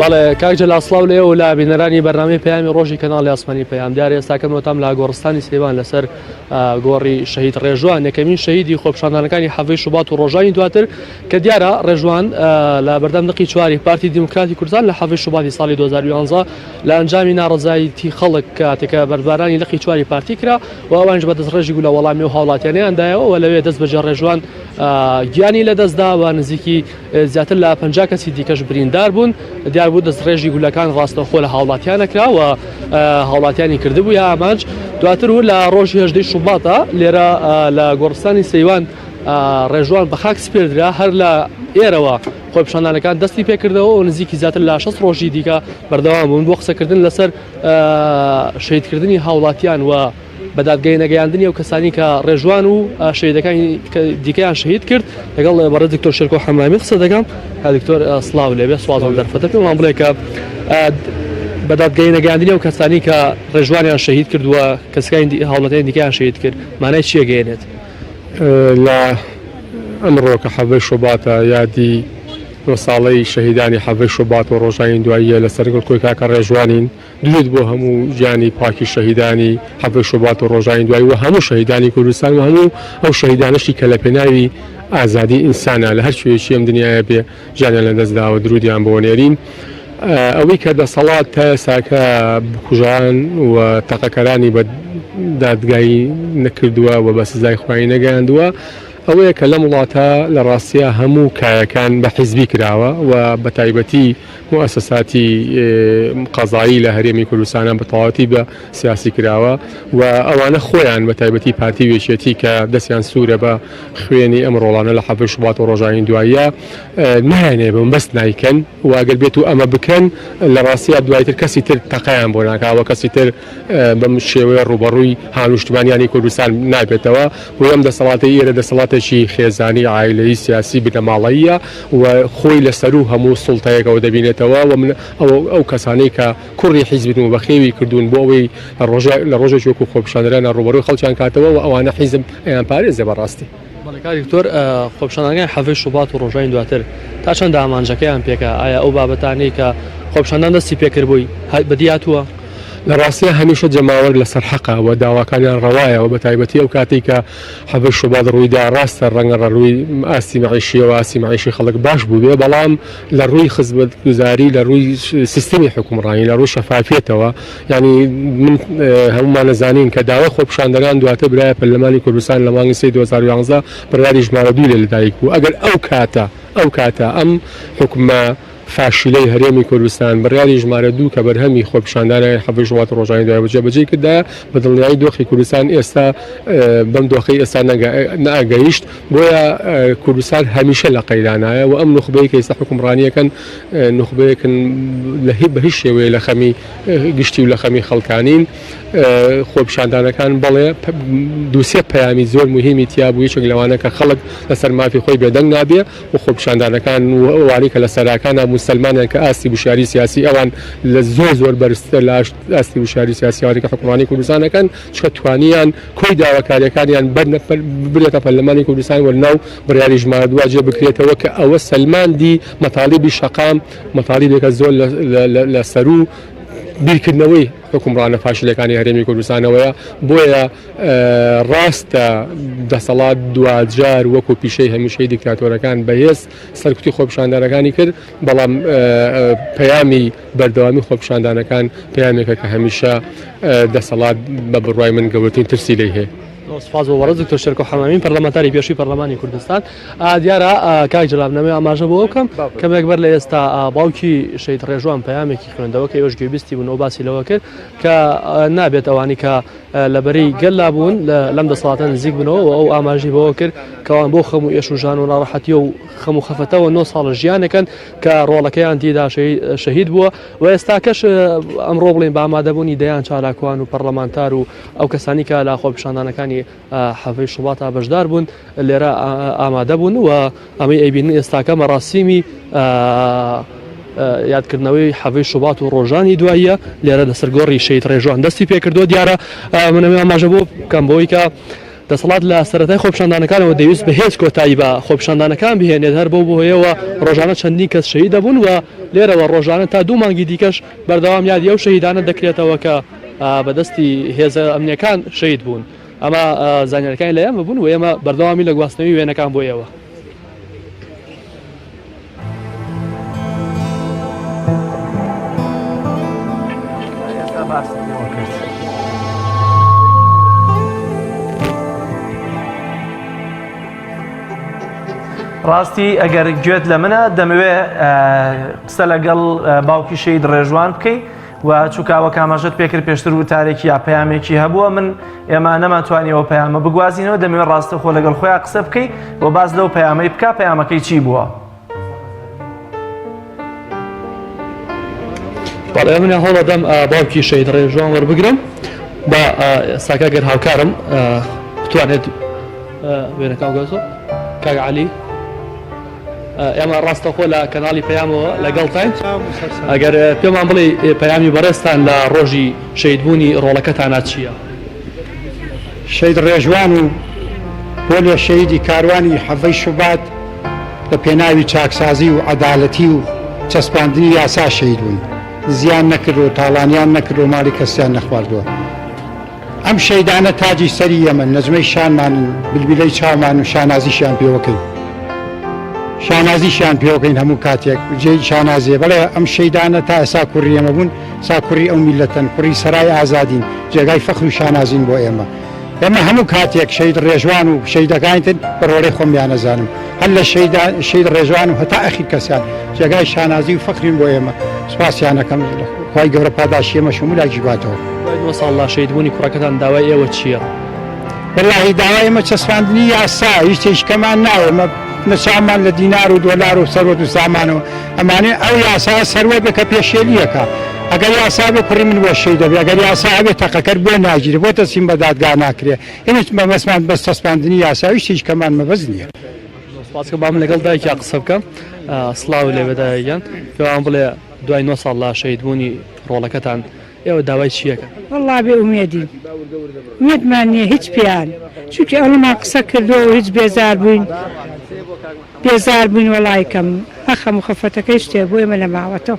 بەڵێ کاک جەلا سڵاو لێ و لا بینەرانی بەرنامی پەیامی ڕۆژی کەناڵی ئاسمانی پەیام دیار ئێستاکەم وتام لا گۆڕستانی سێوان لەسەر گۆڕی شەهید ڕێژوان یەکەمین شەهیدی خۆپشاندانەکانی حەڤی شوبات و ڕۆژانی دواتر کە دیارە ڕێژوان لە بەردەم دقی چواری پارتی دیموکراتی کوردستان لە حەڤی شوباتی ساڵی 2011 لە ئەنجامی ناڕەزایتی خەڵک کاتێکە بەردبارانی لقی چواری پارتی کرا و ئەوانش بە دەستڕێژی گولە وەڵامی و هاوڵاتیانیان دایەوە و لەوێ دەست بەجێ ڕێژوان گیانی لەدەستدا و نزیکی زیاتر لە پ کەسی دیکەش بریندار بوون دیاربوو دەستڕێژی گولەکان ڕاستەخۆ لە هاوڵاتیانە کراوە هاوڵاتیانی کردبوو یا ئامانج دواتر و لە ڕۆژی هەژدەی شوباتە لێرە لە گۆڕستانی سەیوان ڕێژوان بە خاک سپێردرا هەر لە ئێرەوە خۆپیشاندانەکان دەستی پێکردەوە و نزیکی زیاتر لە شەست ڕۆژی دیکە بەردەوام بوون بۆ قسەکردن لەسەر شەیدکردنی هاوڵاتیان و بە دادگای نەگەیاندنی ئەو کەسانی کە ڕێژوان و شەیدەکانی دیکەیان شەهید کرد لەگەڵ بەڕێز دکتۆر شێرکۆ حەمامی قسە دەکەم دکتۆر سڵاو لێبێ سوازم دەرفەتە پێمان بڵێ کە بە دادگای نەگەیاندنی ئەو کەسانی کە ڕێژوانیان شەهید کردووە کەسەکانی هاوڵاتیان دیکەیان شەهید کرد مانای چییە گەیەنێت لە ئەمڕۆ کە حەڤەی شوباتە یادی دو ساڵەی شەهیدانی حەڤەی شوبات و ڕۆژانی دواییە لەسەر گڵکۆی کاکە ڕێژوانین دوێت بۆ هەموو گیانی پاکی شەهیدانی حەڤەی شوبات و ڕۆژانی دوایی و هەموو شەهیدانی کوردستان و هەموو ئەو شەهیدانەشی کە لە پێناوی ئازادی ئینسانە لە هەر کوێیەکی ئەم دنیایە بێ گیانیان لەدەست داوە درودیان بۆ نێرین ئەوەی کە دەسەڵات تا ئێساکە بکوژان و تەقەکەرانی بە دادگایی نەکردووە و بە سزای خوای نەگەیاندووە ئەوەیە کە لەم وڵاتە لە ڕاستیە هەموو کایەکان بە حیزبی کراوە و بە تایبەتی موسەساتی قەزایی لە هەرێمی کوردستانە بە تەواتی بە سیاسی کراوە و ئەوانە خۆیان بە تایبەتی پارتی وێشێتی کە دەستیان سوورە بە خوێنی ئەم ڕۆڵانە لە حەڤەی شوبات و ڕۆژانی دواییە نایانەوێ بم بەس نایکەن و ئەگەر بێت و ئەمە بکەن لە ڕاستیا دوایتر کەسی تر تەقەیان بۆ ناکاوە کەسی تر بەم شێوەیە ڕووبەڕووی هاونیشتمانیانی کوردستان نابێتەوە بۆ ئەم دەسەڵاتی ئێرە دەسەڵاتێکی خێزانی عیلەی سیاسی بنەماڵەییە و خۆی لە سەروو هەموو سوڵتەیەکەوە دەبینێتەوە و من ئەو کەسانەی کە کوڕی حیزبن و بەخێوی کردوون بۆ ئەوەی لە ڕۆژێکی وەکو خۆپیشاندەرانە ڕووبەڕووی خەڵکیان کاتەوە و ئەوانە حیزب ئەیان پارێزێ بەڕاستی. بەڵێ کاک دکتۆر، خۆپیشاندانەکانی حەڤەی شوبات و ڕۆژانی دواتر تا چەندە ئامانجەکەیان پێکا؟ ئایا ئەو بابەتانەی کە خۆپیشاندان دەستی پێکرد بووی بەدی هاتووە؟ لە ڕاستیدا هەمیشە جەماوەر لەسەر حەقە و داواکانیان ڕەوایە و بەتایبەتی ئەو کاتەی کە حەڤەی شوبات ڕوویدا، ڕاستە ڕەنگە ڕەرووی ئاستی مەعیشییەوە ئاستی مەعیشی خەڵک باش بووبێ بەڵام، لە ڕووی خزمەتگوزاری لە ڕووی سیستمی حکومڕانی لە ڕوو شەفافیەتەوە یانی من هەمومان نەزانین کە داوای خۆپشاندەران دواتە برایە پەرلەمانی کوردستان لە مانگی سێی دوو هەزار و یازدە بڕیاری ژمارە دوو لێ لەدایک بوو ئەگەر ئەو کاتە ئەو کاتە ئەم حکومە فاشلەی هەرێمی کوردستان بڕیاری ژمارە دوو کە بەرهەمی خۆپشاندانای حەڤ ژوات ڕۆژانی دوای بەجێ بەجێی کردایە بەدڵنیایی دۆخی کوردستان ئێستا بەم دۆخەی ئێستا نەگە نەئەگەیشت بۆیە کوردستان هەمیشە لە قەیرانایە و ئەم نوخبەی کە ئیستا حوکمڕانی ئەکەن نوخبەیەکن لە هی بە هیچ شێوەیە لە خەمی گشتی و لە خەمی خەڵکانین خۆپیشاندانەکان بەڵێ دوو سێ پەیامی زۆر مهمی تیا بوو یەکێک لەوانە کە خەڵک لەسەر مافی خۆی بێدەنگ نابێ و خۆپیشاندانەکان و ئەوانەی کە لە سەراکانە موسلمانیان کە ئاستی وشیاری سیاسی ئەوان لە زۆر زۆر بەرزترە لە ئاستی وشیاری سیاسییانەکە حوکمڕانی کوردستانەکەن کە توانیان کۆی داواکاریەکانیان ببرێتە پەرلەمانی کوردستان و لەناو بڕیاری ژمارە دوا جێ بکرێتەوە کە ئەوە سەلماندی مەتاڵیبی شەقام مەتاڵیبێکە زۆر لە سەرو بیرکردنەوەی حکومڕانە فاشلەکانی هەرێمی کوردستانەوەیە بۆیە ڕاستە دەسەڵات دواجار وەکو پیشەی هەمیشەی دیکتاتۆرەکان بەهێز سەرکوتی خۆپشاندەرەکانی کرد بەڵام پەیامی بەردەوامی خۆپیشاندانەکان پەیامێکە کە هەمیشە دەسەڵات بە بڕوای من گەورەترین ترسی لێ هەیە. سپاس بۆ وەڕز دکتۆر شەرکۆ حەمامین پەرلەمانتاری پێشووی پەرلەمانی کوردستان دیارە کاک جلابنەوەی ئاماژە بۆ بکەم کەمێک بەر لە ئێستا باوکی شەید ڕێژوان پەیامێکی خوێندەوە کە ئێوەش گوێبیستی بوون و باسی لەوە کرد کە نابێت ئەوانی کە لەبەری گەللا بوون لەم دەسەڵاتە نزیک بنەوە و ئەو ئاماژی بەوە کرد کەوان بۆ خەم و ئێش و ژان و ناڕەحەتی و خەم و خەفەتەوە نۆ ساڵە ژیانەکەن کە ڕۆڵەکەیان تیدا شەهید بووە و ئێستاکەش ئەمڕۆ بڵین بامادەبوونی دەیان چالاکوان و پەرلەمانتار و ئەو کەسانی کە لە خۆپشاندانەکانی حەفەی شوڵاتە بەشدار بوون لێرە ئامادە بوون و ئەمەی ئەیبین ئێستاکە مەڕاستیمی یادکردنەوەی حەڤی شوبات و ڕۆژانی دواییە لێرە لەسەر گۆڕی شەید ڕێژوان دەستی پێکردو دیارە منەوێ ئاماژە بۆ بکەم بۆیکە دەسەڵات لە سەرەتای خۆپیشاندانەکانەوە دەیوست بە هێز کۆتایی بە خۆپیشاندانەکان بهێنێت، هەر بەو هۆیەوە رۆژانە چەندین کەس شەهید دەبوون و لێرەوە رۆژانە تا دوو مانگی دیکەش بەردەوام یادی ئەو شەهیدانە دەکرێتەوە کە بە دەستی هێزە ئەمنییەکان شەهید بوون. ئەمە زانیاریەکانی لە ئێمە بوون و ئێمە بەردەوامی لە گواستنەوەی وێنەکان بۆ ئێوە. ڕاستی ئەگەر گوێت لە منە دەمەوێ قسە لەگەڵ باوکی شەید ڕێژوان بکەیت و چوکا وەک ئاماژەت پێکرد پێشتر وتارێکی یا پەیامێکی هەبووە من ئێمە نەمانتوانیەوە پەیامە بگوازینەوە دەمەوێت ڕاستەخۆ لەگەڵ خۆیان قسە بکەیت و باز لەو پەیامەی بکە پەیامەکەی چی بووە؟ بەڵێ منە هەوڵەدەم باوکی شەید ڕێژوان وەربگرم بە ئێستاکە گەر هاوکارم بتوانێت وێنەکە گەزۆ کاگعالی ئێمە ڕاستەخۆ لە کەناڵی پەیامەوە لەگەڵتاین ئەگەر پێمان بڵێ پەیامی بەڕێزتان لە ڕۆژی شەیدبوونی ڕۆڵەکەتانە چییە؟ شەید ڕێژوان و بۆ لێ شەیدی کاروانی حەڤەی شوبات بە پێناوی چاکسازی و عەدالەتی و چەسپاندنی یاسا شەیدبوون زیان نەکردووە تاڵانیان نەکردووە ماڵی کەسیان نەخواردووە. ئەم شەیدانە تاجی سەری یەمەن، نەجمەی شانمانن، بلبلەی چاومان و شانازیشیان پێوەکەین. شانازیشیان پێوەکەین هەموو کاتێک جێی شانازیە. بەڵێ ئەم شەیدانە تا ئێستا کوڕی ئێمە بوون، سا کوڕی ئەو میللەتەن، کوڕی سەرای ئازادین، جێگای فەخر و شانازین بۆ ئێمە. ئێمە هەموو کاتێک شەید ڕێژوان و شەیدەکانی تر بە ڕۆڵەی خۆم یانەزانم. هەر لە شەیدا شەید ڕێزوان و هەتا ئەخیر کەسیان جێگای شانازی و فەخرین بۆ ئێمە سوپاسیانەکەم خی گەورە پاداشی ئێمە شمولاکی باتەوە دووە ساڵ لا شەید بوونی کوڕەکەتان داوای ئێوە چییە؟ بەلاهی داوای ئمە چەسپاندنی یاسا هیچ تێشکەمان ناوێمە نەچاومان لە دینار و دۆلار و سەروەت و سامانەوە ئەمانێ ئەو یاسا سەروەت بکە پێشێلیەکە ئەگەر یاسا بێ کوڕی من بۆ شەی دەبێ ئەگەر یاسا هەبێت تەقەکەر بۆ ناگیرێ بۆ تەسیم بە دادگا ناکرێ هیچ مەبەستمان بەس چەسپاندنی یاساویش هیچ کەمان مەبەست نییە. سپاس کە بام لەگەڵ دایکیا قسە بکەم سڵاو لێ بەدایگیان پێوان بڵێ دوای نۆ ساڵ لە شەید بوونی ڕۆڵەکەتان ئێوە داوای چیەکە والله بێ ئومێدی مێدمان نییە هیچ پێیان چونکە ئەوەمان قسە کردو هیچ بێزار بووین بێزار بووین وەڵایکەم ئەخەم و خەفەتەکەی شتێ بۆ ئێمە نەماوەتەوە.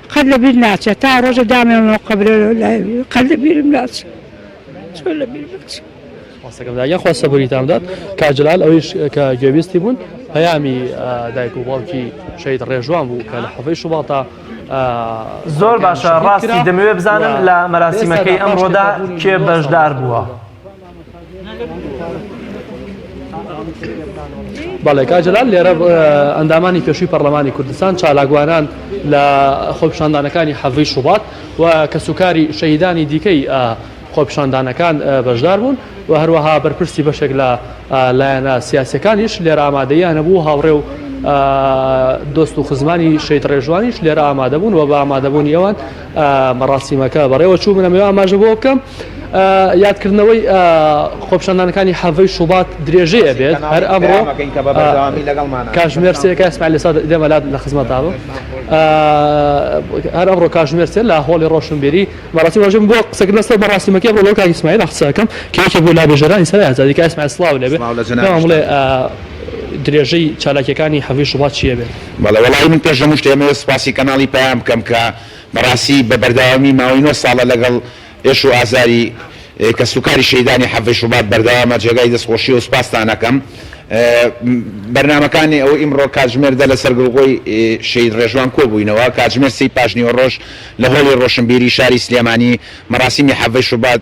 قەت لە بیر ناچێ تا ڕۆژێ دامێنمەوە قەبرێ قەت لە بیرم ناچێ چۆن لە بیر بچێ. ماستەکەم داگیان خوا سەبوریتان بدات کاک جەلال ئەویش کە گوێبیستی بوون پەیامی دایک و باوکی شەید ڕێژوان بوو کە لە حەفەی شوباتە زۆر باشە ڕاستی دەمەوێت بزانم لە مەراسیمەکەی ئەمڕۆدا کێ بەشدار بووە. بەڵێ کاک جەلال لێرە ئەندامانی پێشووی پەرلەمانی کوردستان چالاکوانان لە خۆپیشاندانەکانی حەڤی شوبات و کەسوکاری شەهیدانی دیکەی خۆپیشاندانەکان بەشدار بوون و هەروەها بەرپرسی بەشێک لە لایەنە سیاسەکانیش لێرە ئامادەیان هەبوو هاوڕێ و دۆست و خزمانی شەید ڕێژوانیش لێرە ئامادەبوون و بە ئامادەبوونی ئەوان مەراسیمەکە بەڕێوەچوو من ئەمەوێ ئاماژە بۆ بکەم یادکردنەوەی خۆپشاندانەکانی حەڤەی شوبات درێژەیە بێت هەر ئەمڕۆ کاژمێر سێکە سمال لەسا دێمەلات لە خزمەتا بوو هەر ئەمڕۆ کاژمێر سێ لە هۆڵی ڕۆشنبیری مەراسی ڕژم بۆ قسەکردن لەسەر بەڕاستیمەکە بۆ لەو کاکی سمایل قسەکەم کێکی بۆ لابێژەرانی سەر ئازادی کاس سلااو لەبێت درێژەی چالاکیەکانی حەڤی شوبات چیە بێت بەڵێ وەڵایی من پێش هەمووشت ئێمەوێت سوپاسی کەناڵی پەیام بکەم کە بەڕاستی بە بەردەوامی ماوەی نۆ ساڵە لەگەڵ ئێش و ئازاری کەس و کاری شەهیدانی حەڤدەی شوبات بەردەوامە جێگای دەست خۆشی و سوپاستان ئەکەم بەرنامەکانی ئەو ئیمڕۆ کاتژمێر دە لەسەر گڵگۆی شەهید ڕێژوان کۆبووینەوە کاتژمێر سێی پاشنیوەڕۆژ لە هۆڵی ڕۆشنبیری شاری سلێمانی مەراسیمی حەڤدەی شوبات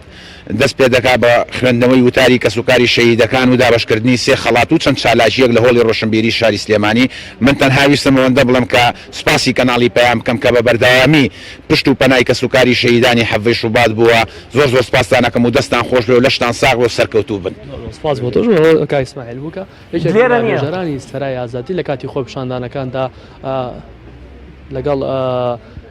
دەست پێ دەکات بە خوێندنەوەی وتاری کەسوکاری شەهیدەکان و دابەشکردنی سێ خەڵات و چەند چالاکییەک لە هۆڵی ڕۆشنبیری شاری سلێمانی، من تەنها ویستم ئەوەندە بڵێم کە سوپاسی کەناڵی پەیام بکەم کە بە بەردەوامی پشت و پەنای کەسوکاری شەهیدانی حەڤەی شوبات بووە، زۆر زۆر سوپاستان ئەکەم و دەستتان خۆش بێ و لەشتان ساغ بێ و سەرکەوتوو بن.